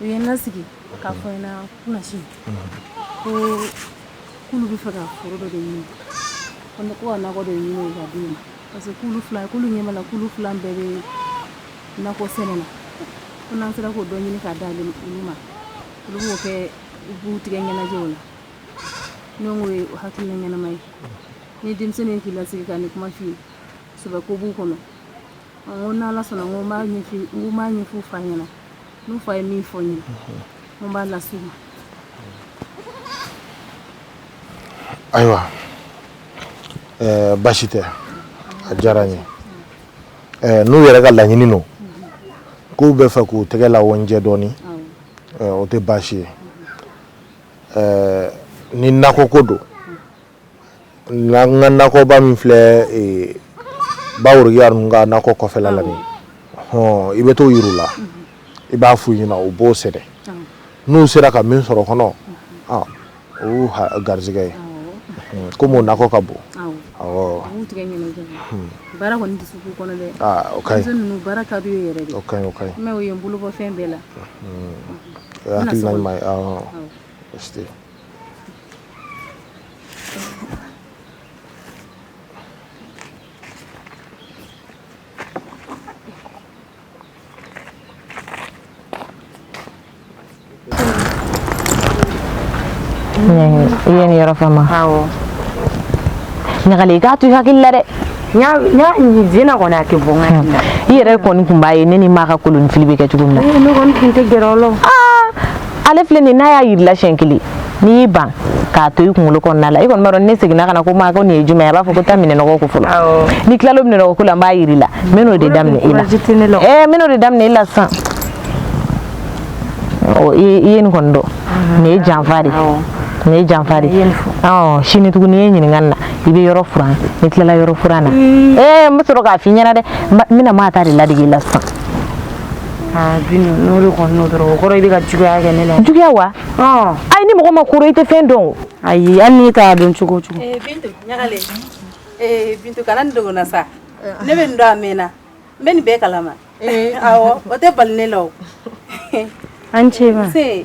U ye n lasigi k'a fɔ n ɲɛna kunasini ko k'olu b'a fɛ ka foro dɔ de ɲini ko ne ko ka nakɔ de ɲini k'a d'u ma parce que k'olu fila k'olu ɲɛ b'a la k'olu fila bɛɛ bɛ nakɔ sɛnɛ na ko n'an sera k'o dɔ ɲini k'a di ale olu ma olu b'o kɛ u b'u tɛgɛ ɲɛnajɛ o la ne k'o ye hakilina ɲɛnama ye ni denmisɛnnin k'i lasigi ka nin kuma f'i ye sɛbɛ ko b'u kɔnɔ N ko n' ala sɔnna n ko n b'a ɲɛf'u fa ɲɛna n'u fa ye min fɔ n ye n ko n b'a las'u ma ayiwa baasi tɛ a diyara n ye n'u yɛrɛ ka laɲini don k'u b'a fɛ k'u tɛgɛ la jɛ dɔɔnin o tɛ baasi ye ni nakɔ ko don N ka nakɔba min filɛ Baworokiya ninnu ka nakɔ kɔfɛla la nin i bɛ t'o yir'u la i b'a f'u ɲɛna u b'o sɛnɛ n'u sera ka min sɔrɔ kɔnɔ o y'u garisɛgɛ ye komi o nakɔ ka bon ye n yɔrɔ faamu awɔ ɲagali i k'a to i hakili la dɛ zena kɔni a tɛ bɔ n hakili la i yɛrɛ kɔni tun b'a ye ne ni maa ka kolonifili bɛ kɛ cogo min na ne kɔni tun tɛ gɛrɛ o la ale filɛ nin n'a y'a yir'i la siɲɛ kelen n'i y'i ban k'a to i kunkolo kɔnɔna la i kɔni b'a dɔn n'i seginna ka na ko maa ko nin ye jumɛn ye a b'a fɔ ko taa minɛnɔgɔ ko fɔlɔ n'i tilala minɛnɔgɔ ko la n b'a yir'i la n bɛ n'o de daminɛ i la ɛɛ n bɛ n'o de daminɛ i la sisan ɔ i ye nin kɔni dɔn nin ye janfa de ye nin ye janfa de ye ɔ sini tuguni i ye ɲininkali la i bɛ yɔrɔ furan n'i tilala yɔrɔ furan na ɛɛ n bɛ sɔrɔ k'a f'i ɲɛna dɛ n bɛna maa ta de ladege i la sisan aa bi n'o de kɔni n'o dɔrɔn o kɔrɔ i bɛ ka juguya kɛ ne la juguya wa ɔ ayi ni mɔgɔ ma koro i tɛ fɛn dɔn o ayi hali n'i t'a dɔn cogo o cogo ee bintu ɲagale ee bintu kana nin dogo n na sa ne bɛ nin dɔn a mɛnna n bɛ nin bɛɛ kalama awɔ o tɛ bali ne la o an ce ma se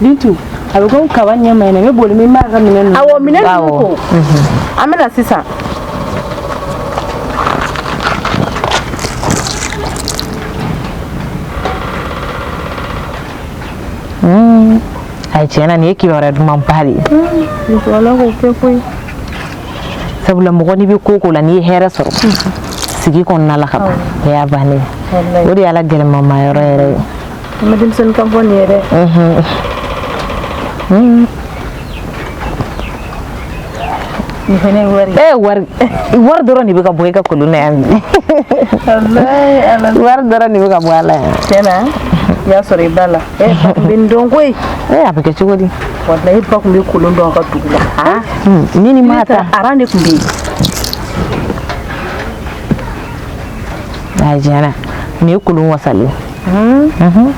Bintu a bɛ komi kaba ɲɛ man ɲi ne bɛ boli min b'a ka minɛn ninnu awɔ minɛn ninnu ko an bɛna sisan a tiɲɛ na nin ye kibaruya dumanba de ye musokɔrɔba k'o kɛ koyi sabula mɔgɔ n'i bɛ ko o ko la n'i ye hɛrɛ sɔrɔ sigi kɔnɔna la ka ban o y'a bannen ye o de y'a la gɛlɛmama yɔrɔ yɛrɛ ye an bɛ denmisɛnnin kan fɔ nin ye dɛ nin fɛnɛ ye wari ee wari wari dɔrɔn de bɛ ka bɔ e ka kolon na yan bi wari dɔrɔn de bɛ ka bɔ a la yan tiɲɛ na i y'a sɔrɔ i ba la e bɛ nin dɔn koyi ee a bɛ kɛ cogo di walayi n ba tun bɛ kolon dɔn an ka dugu la ah, hmm, ne ni ma ta ara ne tun bɛ yen a jɛra nin ye kolon wasalen hmm. mhm.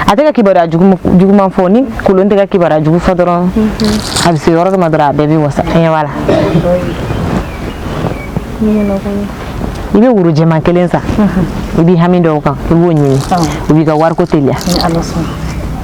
a tɛ ka kibaruya juguman fɔ ni kolon tɛ ka kibaruya jugu fɔ dɔrɔn mhm. a bɛ se yɔrɔ dɔ ma dɔrɔn a bɛɛ b'i wasa ɲɛ b'a la i bɛ woro jɛman kelen san mhm. i b'i hami da o kan i b'o ɲini o b'i ka wariko teliya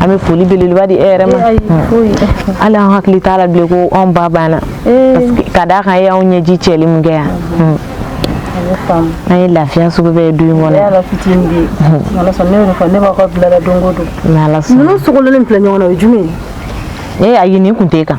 an bɛ foli belebeleba di e yɛrɛ ma hali an hakili t'a la bilen ko anw ba banna parce que ka d'a kan e y'anw ɲɛji cɛli min kɛ yan an ye lafiya sugu bɛɛ ye du in kɔnɔ ne b'a fɔ bilala don o don ninnu sogolen filɛ ɲɔgɔn na o ye jumɛn ye ee ayi nin kun tɛ kan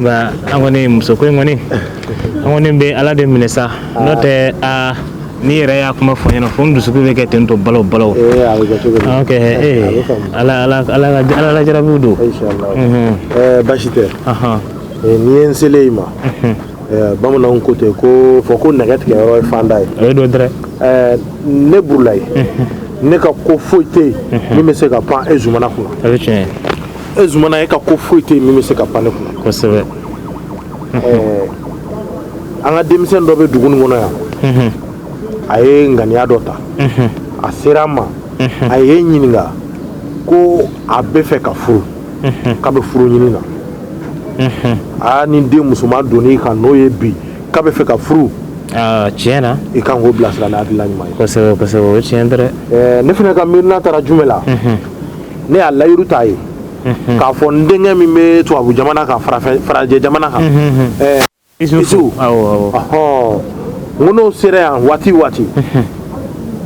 nka an kɔni muso ko in kɔni an kɔni bɛ ala de minɛ sa n'o tɛ aa n'i yɛrɛ y'a kuma fɔ n ɲɛna fo n dusukun bɛ kɛ ten tɔ balo balo ee a bɛ kɛ cogo di Ah, ok ee a bɛ faamu. ala ala ala ka ala la jarabiw don Inch'Allah. Mhm. Eh, basi tɛ Ahan. Eh, n'i ye n selen ye i ma eh, bamananw ko ten k'a fɔ ko nɛgɛ tigɛ yɔrɔ ye fanda ye o ye dɔ dɛrɛ Eh, ne burulayi ne ka ko foyi tɛ yen min bɛ se ka pan e zumana kunna o ye tiɲɛ ye e zumana e ka ko foyi tɛ yen min bɛ se ka pan ne kunna kosɛbɛ an ka denmisɛn dɔ bɛ dugu nin kɔnɔ yan a ye ŋaniya dɔ ta a sera an ma a ye n ɲininka ko a bɛ fɛ ka furu k'a bɛ furu ɲini na aa ni den musoman donni kan n'o ye bi k'a bɛ fɛ ka furu tiɲɛ na i kan k'o bilasira n'a hakilina ɲuman ye kosɛbɛ kosɛbɛ o ye tiɲɛ dɛrɛ ne fana ka miirina taara jumɛn la ne y'a layidu t'a ye k'a fɔ n denkɛ min bɛ tubabu jamana kan farajɛ jamana kan isufu n ko n'o sera yan waati o waati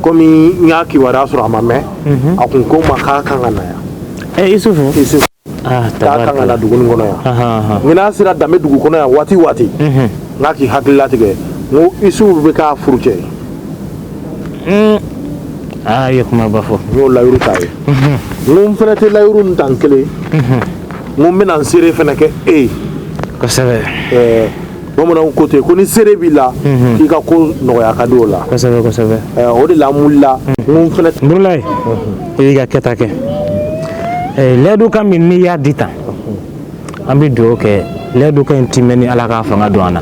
kɔmi n y'a kibaruya sɔrɔ a ma mɛn a kun ko n ma k'a kan ka na yan isufu isufu k'a kan ka na dugu nin kɔnɔ yan n ko n'a sera danbe dugu kɔnɔ yan waati o waati n k'a k'i hakili latigɛ n ko isufu bɛ k'a furu cɛ Aa ye kumaba fɔ n'o layiru ta ye n fana tɛ layiru nin ta n kelen n bɛna n seere fana kɛ e ye kosɛbɛ bamananw ko ten ko ni seere b'i la k'i ka ko nɔgɔya ka di o la o de la n wulila fana burulayi i y'i ka kɛta kɛ layidukan min n'i y'a di tan an bɛ dugawu kɛ layidukan in timɛni ala ka fanga don an na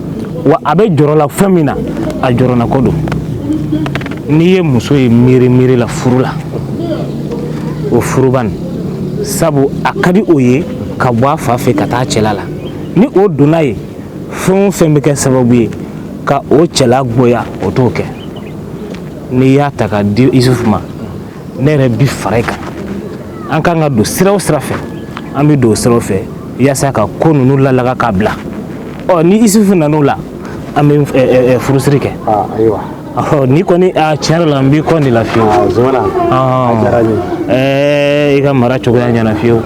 wa a bɛ jɔrɔ la fɛn min na a jɔrɔnako don n'i ye muso ye miiri miiri la furu la o furuba nin sabu a ka di o ye ka bɔ a fa fɛ ka taa cɛla la ni o donna ye fɛn o fɛn bɛ kɛ sababu ye ka o cɛla goya o t'o kɛ n'i y'a ta ka di isufu ma ne yɛrɛ bi fara i kan an kan ka don sira o sira fɛ an bɛ don o siraw fɛ yaasa ka ko ninnu lalaga k'a bila ɔ ni isufu nan'o la an bɛ eh, eh, eh, furusiri kɛ ah, ayiwa ɔ ni kɔni a ah, tiɲɛ yɛrɛ la n b'i kɔ de la fiyewu ah, zumana a diyara n ye i ka mara cogoya ɲɛna fiyewu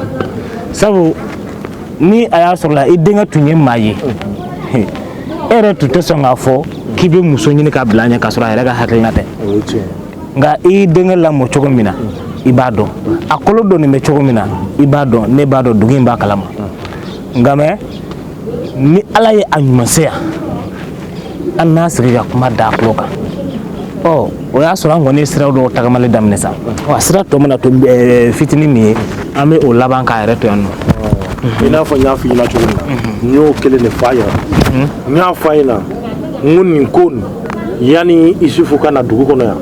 sabu ni a y'a sɔrɔ la i denkɛ tun ye maa ye e yɛrɛ tun tɛ sɔn k'a fɔ k'i bɛ muso ɲini k'a bila a ɲɛ k'a sɔrɔ a yɛrɛ ka hakilina tɛ nka i y'i denkɛ lamɔ cogo min na i b'a dɔn a kolo dɔnnen bɛ cogo min na i b'a dɔn ne b'a dɔn dugu in b'a kalama nka mɛ ni ala ye a ɲuman se yan an n'a sigi ka kuma da a tulo kan ɔ o y'a sɔrɔ an kɔni ye sira dɔw tagamali daminɛ sa a sira tɔ mana to eh, fitinin min ye an bɛ o laban k'a yɛrɛ to yan nɔ i n'a fɔ n y'a fɔ i ɲɛna cogo min na n y'o kelen de fɔ a ɲɛna n y'a fɔ a ɲɛna n ko nin ko nin yanni isufu ka na dugu kɔnɔ yan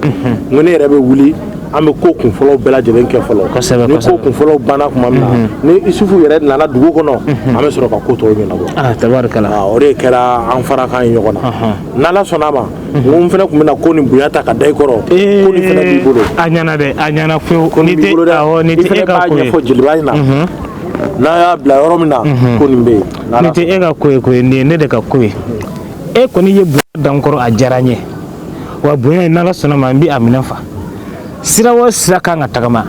ko ne yɛrɛ bɛ wuli an bɛ ko kunfɔlɔw bɛɛ lajɛlen kɛ fɔlɔ ni ko kunfɔlɔw banna tuma min na ni isufu yɛrɛ nana dugu kɔnɔ an bɛ sɔrɔ ka ko tɔw ɲɛnabɔ o de kɛra an farakan ye ɲɔgɔn na n'ala sɔnna a ma n fana tun bɛna ko nin bonya ta ka da i kɔrɔ ko nin b'i bolo a ɲɛna dɛ a ɲɛna e k'a ɲɛfɔ jeliba in na n'a y'a bila yɔrɔ min na ko nin bɛ yen nin tɛ e ka ko ye nin ye ne de ka ko ye e kɔni ye bonya da n kɔrɔ a diyara n ye wa bonya in n'ala sɔnna ma n bɛ a minɛ fa sira o sira kan ka tagama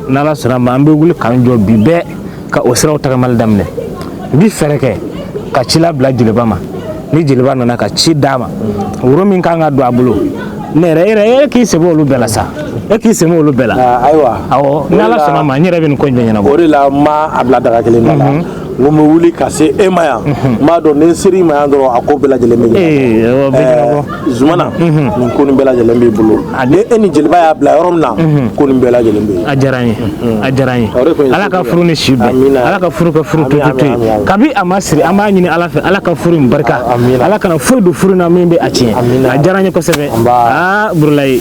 n'ala sɔnna ma an bɛ wuli k'an jɔ bi bɛɛ ka o siraw tagamali daminɛ n bɛ fɛɛrɛ kɛ ka ci labila jeliba ma ni jeliba nana ka ci d'a ma woro min kan ka don a bolo ne yɛrɛ yɛrɛ e k'i sɛbɛn olu bɛɛ la sa e k'i sɛbɛn olu bɛɛ la ayiwa awɔ n'ala sɔnna ma n yɛrɛ bɛ nin ko in bɛɛ ɲɛnabɔ o de la n ma a bila daga kelen na n ko n bɛ wuli ka se e ma yan n b'a dɔn ni n ser'i ma yan dɔrɔn a ko bɛɛ lajɛlen bɛ ɲɛnabɔ zumana nin ko nin bɛɛ lajɛlen b'i bolo ni e ni jeliba y'a bila yɔrɔ min na ko nin bɛɛ lajɛlen bɛ yen a diyara n ye a diyara n ye ala ka furu ni si bɛn ala ka furu ka furu tutu to yen kabi a ma siri an b'a ɲini ala fɛ ala ka furu in barika ala kana foyi don furu na min bɛ a tiɲɛ a diyara n ye kosɛbɛ aa burulayi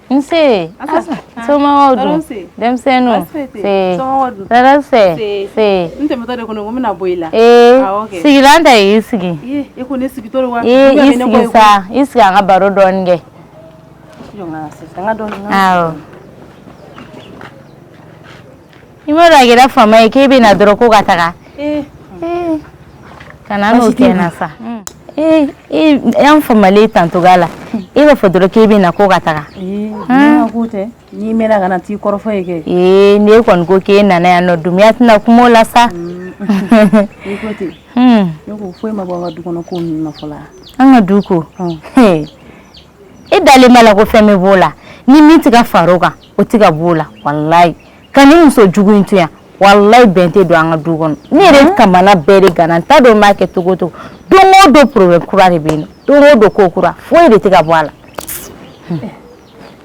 Nse somaw dun denmisɛnninw taara fɛ n tɛmɛtɔ de kɔnɔ ko n bɛna bɔ i la sigilan ta y'i sigi i sigi sa i sigi an ka baro dɔɔnin kɛ i ma dɔn a kɛra fama ye k'e bɛ na dɔrɔn ko ka taga eh. Eh. kana o kɛ n na sa hmm. eh, y'an famalen tantogoya la e b'a fɔ dɔrɔn k'e bɛ na ko ka taga hmm. k'o tɛ n'i mɛnna ka na t'i kɔrɔfɔ ye kɛ ee n'e kɔni ko k'e nana yan nɔ dunbiya tɛna kuma o la sa hmm. i ko ten ne ko foyi ma bɔ an ka du kɔnɔ ko ninnu na fɔlɔ an ka du ko e dalen b'a la ko fɛn bɛ b'o la ni min tɛ ka far'o kan o tɛ ka b'o la walayi ka nin muso jugu in to yan walayi bɛn tɛ don an ka du kɔnɔ ne yɛrɛ kamana bɛɛ de ganna n t'a dɔn n b'a kɛ cogo cogo don o don problème kura de bɛ yen nɔ don o don ko kura foyi de tɛ ka bɔ a la.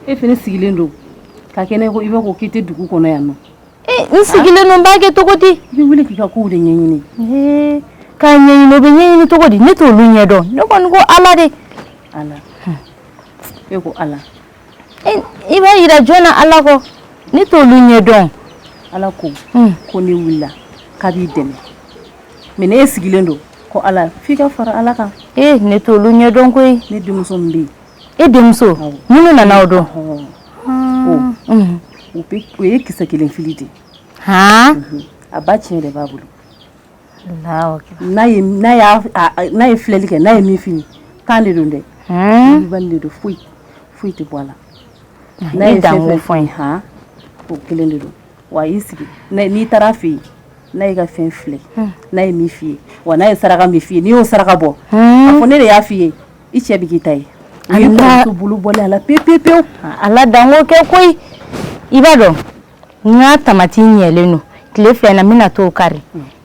e fana sigilen don ka kɛ ne ko i b'a fɔ k'i tɛ dugu kɔnɔ yan nɔ. Eh, n sigilen don n b'a kɛ cogo di. i bɛ wuli k'i ka kow de ɲɛɲini. Eh, k'a ɲɛɲini o bɛ ɲɛɲini cogo di ne t'olu ɲɛdɔn ne kɔni ko ala de. ala e ko ala. i b'a jira jɔn na Ala kɔ ne t'olu ɲɛ dɔn Ala ko hun ko n'e wulila k'a b'i dɛmɛ mais n'e sigilen don ko Ala f'i ka fara Ala kan ee ne t'olu ɲɛ dɔn koyi ne denmuso min bɛ yen e denmuso awɔ minnu nana o don ɔhɔɔ haan unhun u bɛ o ye kisɛ kelen fili de ye haan a ba tiɲɛ de b'a bolo n'a ye filɛli kɛ n'a ye min f'i ye ten de don dɛ de don foyi foyi tɛ bɔ a la n'a ye fɛn fɔ i ye o kelen de don wa y'i sigi n'i taar'a fɛ yen n'a y'i ka fɛn filɛ n'a ye min f'i ye wa n'a ye saraka min f'i ye n'i y'o saraka bɔ a fɔ ne de y'a f'i ye i cɛ bɛ k'i ta ye a bolo bɔlen a la pe pe pe a dan kɛ koyi i b'a dɔn n ka tamati ɲɛlen don tile fila na n bɛna t'o kari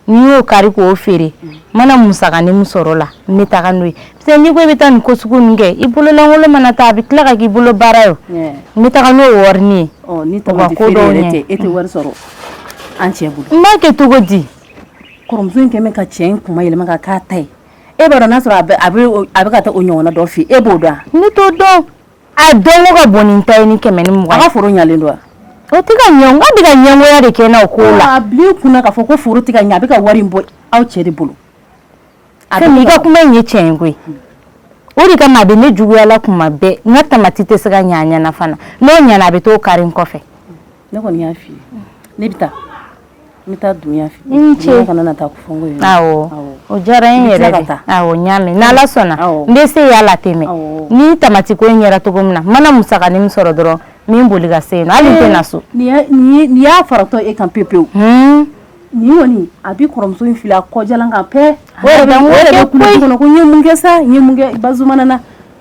ni n y'o kari k'o feere n mana musakanin min sɔr'o la n bɛ taga n'o ye parce n'i ko i bɛ taa nin ko sugu in kɛ i bololankolon mana taa a bɛ tila ka k'i bolo baara ye n bɛ taga n'o ye warini ye ni ko dɔw e tɛ wari sɔrɔ an cɛ bolo n b'a kɛ cogo di kɔrɔmuso in kɛlen bɛ ka cɛ in kuma yɛlɛma ka k'a ta ye e b'a dɔn n'a sɔrɔ a bɛ ka taa o ɲɔgɔnna dɔ fɛ e b'o dɔn ne t'o dɔn A dɔn o ka bon nin ta ye ni kɛmɛ ni mugan a ka foro ɲalen don o tɛ ka ɲɛ nka a bɛ ka ɲɛgoya de kɛ n na o ko la a bil'i kun k'a fɔ ko foro tɛ ka ɲɛ a bɛ ka wari bɔ aw cɛ de bolo a i ka kuma in ye tiɲɛ ye koyi o de kama a bɛ ne juguya la kuma bɛɛ n ka tamati tɛ se ka ɲɛ a ɲɛna fana n'o ɲɛna a bɛ t'o kari n kɔfɛ Ne kɔni y'a fɔ ne bɛ taa n taa dunya fɛ cɛ kana na taa o diyara n yɛrɛ ye awɔ n y'a mɛn ni ala sɔnna n bɛ se y'a la tɛmɛ ni tamati ko in yɛrɛ cogo min na mana musakanin min sɔrɔ dɔrɔn n bɛ boli ka se na bɛna so nin y'a faratɔ e kan pe pewu ni kɔni a bɛ kɔrɔmuso in fili a kɔjalan kan pe kɔnɔ ko n ye mun kɛ sa ba na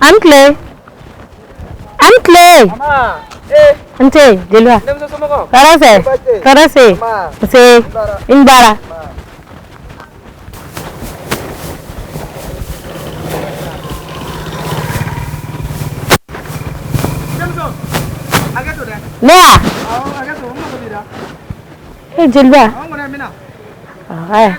Aw ni tile. Aw ni tile. Nse, jeliba. Tɔɔrɔ fɛ. Tɔɔrɔ se. Nse, i ni baara. Ne wa? E jeliba. Aya.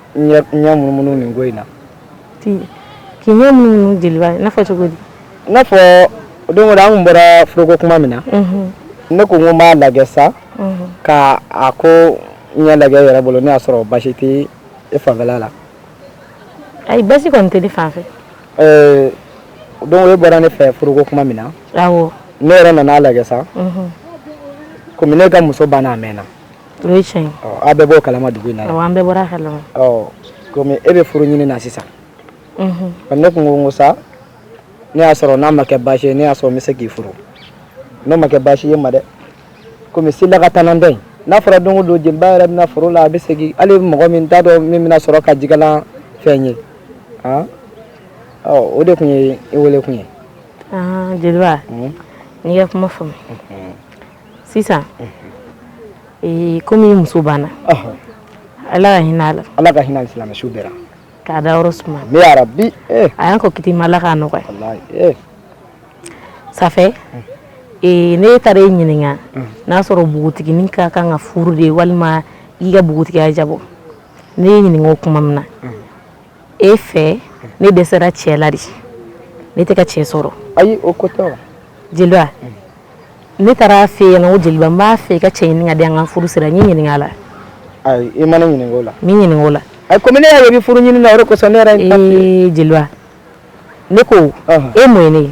munumunu nin ko in na k'i ɲɛ munumunu jeliba n'a fɔ cogo di n'a fɔ don dɔ an bɔra furu ko tuma min na ne ko n b'a lajɛ sa ka a ko in lajɛ n yɛrɛ bolo ne y'a sɔrɔ basi tɛ e fan fɛ la ayi basi kɔni tɛ ne fan fɛ don i bɔra ne fɛ furu ko tuma min na ne yɛrɛ nana a lajɛ sa kɔmi ne ka muso banna a mɛnna o ye tiɲɛ ye, ɔ aw bɛɛ b'o kalama dugu in na, awɔ an bɛɛ bɔra a kalama, ɔ komi e bɛ furu ɲini na sisan, unhun, ne tun ko n ko sa ne y'a sɔrɔ n'a ma kɛ baasi ye ne y'a sɔrɔ n bɛ se k'i furu n'o ma kɛ baasi ye ma dɛ komi sila ka tana tɛ n'a fɔra don o don jeliba yɛrɛ bɛna furu la a bɛ segin hali mɔgɔ min t'a dɔn min bɛna sɔrɔ ka jigalan fɛn ye ah ɔ o de tun ye i wele kun ye ah jeliba n y'i ka kuma faamu sisan kɔmi muso banna ala ka hinɛ a la ka hinɛ silamɛ suw bɛɛ la k'a dayɔrɔ suma ami yarabi a y'an kɔn kiti ma ala k'a nɔgɔya ça fait ne taara e ɲininka n'a y'a sɔrɔ npogotiginin ka kan ka furu de ye walima i ka npogotigiya jabɔ ne y'e ɲininka o tuma min na e fɛ ne dɛsɛra cɛ la de ne tɛ ka cɛ sɔrɔ ayi o ko tɛ wa jeliba ne taara e fɛ yen ko jeliba n b'a fɛ i ka cɛ ɲini ka di an ka furu sira n ɲininka la ayi i ma ne ɲininka o la n m'i ɲininka o la ayi komi ne yɛrɛ bɛ furu ɲini na o de kosɔn ne yɛrɛ ee jeliba ne ko e mun ye ne ye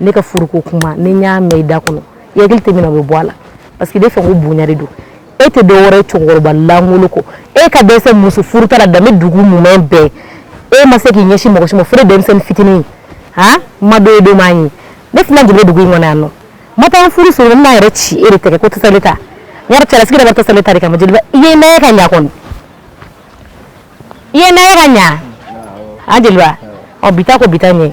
ne ka furuko kuma ni n y'a mɛn i da kɔnɔ i hakili tɛ min na o bɛ bɔ a la parce que e de fɛ ko bonya de don e tɛ dɔ wɛrɛ ye cɛkɔrɔba lankolon kɔ e ka dɛsɛ muso furuta la danbe dugu mumɛ bɛɛ e ma se k'i ɲɛsin mɔgɔ si ma fo ne denmisɛnnin fitinin han ma dɔ ye don m'a ye ne tɛna jigin dugu in kɔnɔ yan nɔ n ma taa n furu sɔrɔ n bɛna yɛrɛ ci e de tɛgɛ ko tasale ta n yɛrɛ cɛlasigi de bɛ tasale ta de kama jeliba i ye n'an ye ka ɲa kɔni i ye n'an ye ka ɲa a jeliba ɔ bi ta ko bi ta ɲɛ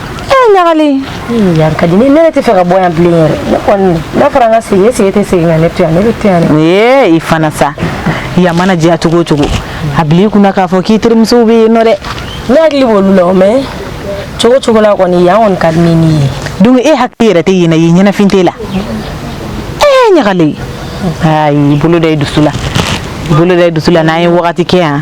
ee ɲagali yan ka di ne yɛrɛ tɛ fɛ ka bɔ yan bilen yɛrɛ ne kɔni n'a fɔra an ka segin e sigi tɛ segin ka ne to yan ne bɛ to yan dɛ ee i fana sa yan mana diya cogo o cogo a bila i kunna k'a fɔ k'i terimusow bɛ yen nɔ dɛ ne hakili b'olu la o mɛ cogo cogo la kɔni yan kɔni ka di ne ni ye donc e hakili yɛrɛ tɛ yen na yen ɲɛnafin t'e la ee ɲagali ayi bolo da i dusu la bolo da i dusu la n'an ye wagati kɛ yan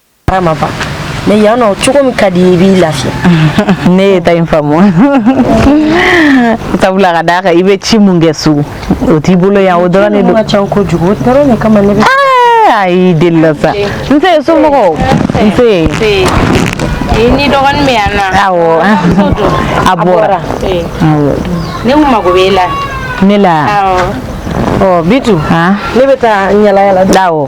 ma ban mɛ yan nɔ cogo min ka di i b'i lafiya ne y'e ta in faamu sabula ka d'a kan i bɛ ci mun kɛ so o t'i bolo yan o dɔrɔn de don ka ca kojugu o dɔrɔn de kama ne bɛ ayi delila sa n se somɔgɔw n se ni dɔgɔnin bɛ yan nɔ awɔ a bɔra ne kun mago b'e la ne la awɔ ɔ bitu ne bɛ taa yalayala awɔ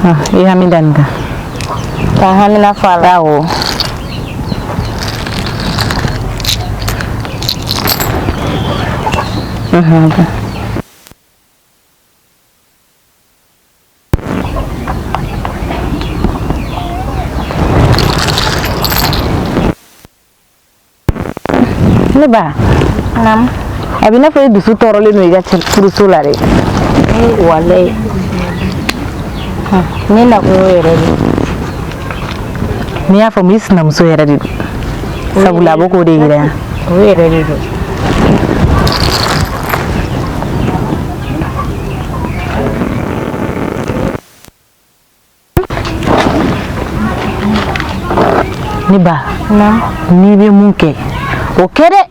Ha, i hami dan ka. Ka hami na fala o. Mhm. ne ba nam a b'i n'a fɔ e dusu tɔɔrɔlen don i ka furuso la dɛ walayi ne nakun y'o yɛrɛ de ye ne y'a faamu i sinamuso yɛrɛ de don sabula a bɛ k'o de yira yan o yɛrɛ de don ne ba n'i bɛ mun kɛ o kɛ dɛ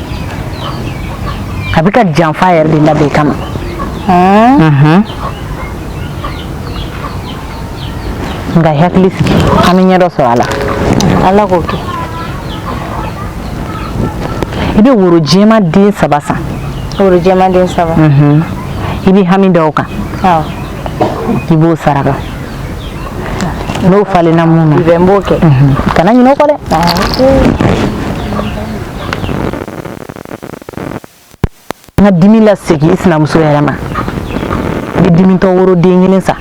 a bɛ ka janfa yɛrɛ de labɛn kama nka i hakili sigi an bɛ ɲɛ dɔ sɔrɔ a la ala k'o kɛ i bɛ woro jɛma den saba san woro jɛma den saba i bɛ hami da o kan i b'o saraka n'o falenna mun na i bɛ n b'o kɛ kana ɲinɛ o kɔ dɛ n ka dimi lasegin i sinamuso yɛrɛ ma i bɛ dimitɔ woro den kelen san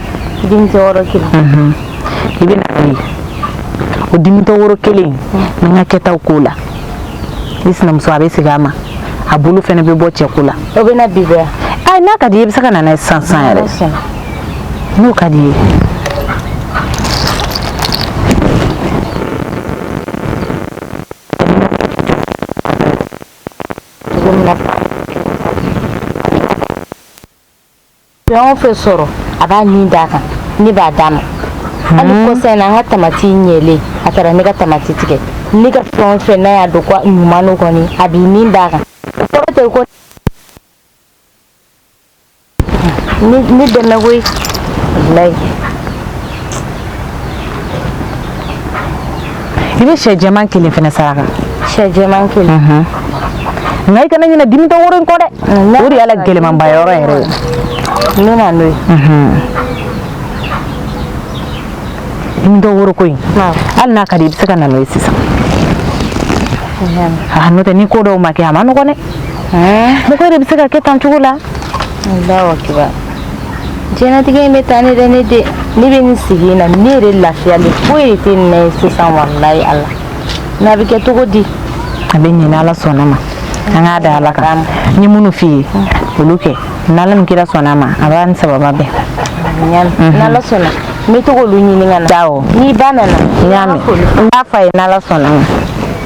dimitɔ woro kelen mhm. i bɛ na n'o ye o dimitɔ woro kelen n ka kɛtaw k'o la i sinamuso a bɛ segin a ma a bolo fɛnɛ bɛ bɔ cɛko la o bɛ na bi bɛɛ ayi n'a ka di i bɛ se ka na n'a ye sisan sisan yɛrɛ n'o ka di i ye Fɛn o fɛn sɔrɔ a b'a nin d'a kan ne b'a d'a ma hali kɔsa in na an ka tamati ɲɛlen a taara ne ka tamati tigɛ ne ka fɛn o fɛn n'a y'a dɔn ko ɲuman don kɔni a b'i nin d'a kan o kɔrɔ tɛ ko ne dɛmɛ koyi walayi i bɛ sɛ jɛman kelen fana saraka sɛ jɛman kelen nka i kana ɲinɛ dimitɔ woro in kɔ dɛ o de y'a la gɛlɛmanba yɔrɔ yɛrɛ ye n bɛ na n'o ye dimitɔ woro ko in hali n'a ka di i bɛ se ka na n'o ye sisan n'o tɛ ni ko dɔw ma kɛ a man nɔgɔn dɛ mɔgɔ yɛrɛ bɛ se ka kɛ tan cogo la diɲɛnatigɛ in bɛ tan de dɛ ne den ne bɛ nin sigi in na ne yɛrɛ lafiyalen foyi de tɛ nin na ye sisan walayi ala n'a bɛ kɛ cogo di a bɛ ɲɛ n'ala sɔnna ma an k'a da ala kan n ye minnu f'i ye olu kɛ n'ala ni kira sɔnna ma a b'a ni sababu bɛn n'ala sɔnna n bɛ to k'olu ɲini ka na awɔ n'i ba nana n y'a mɛn n b'a fɔ a ye n'ala sɔnna ma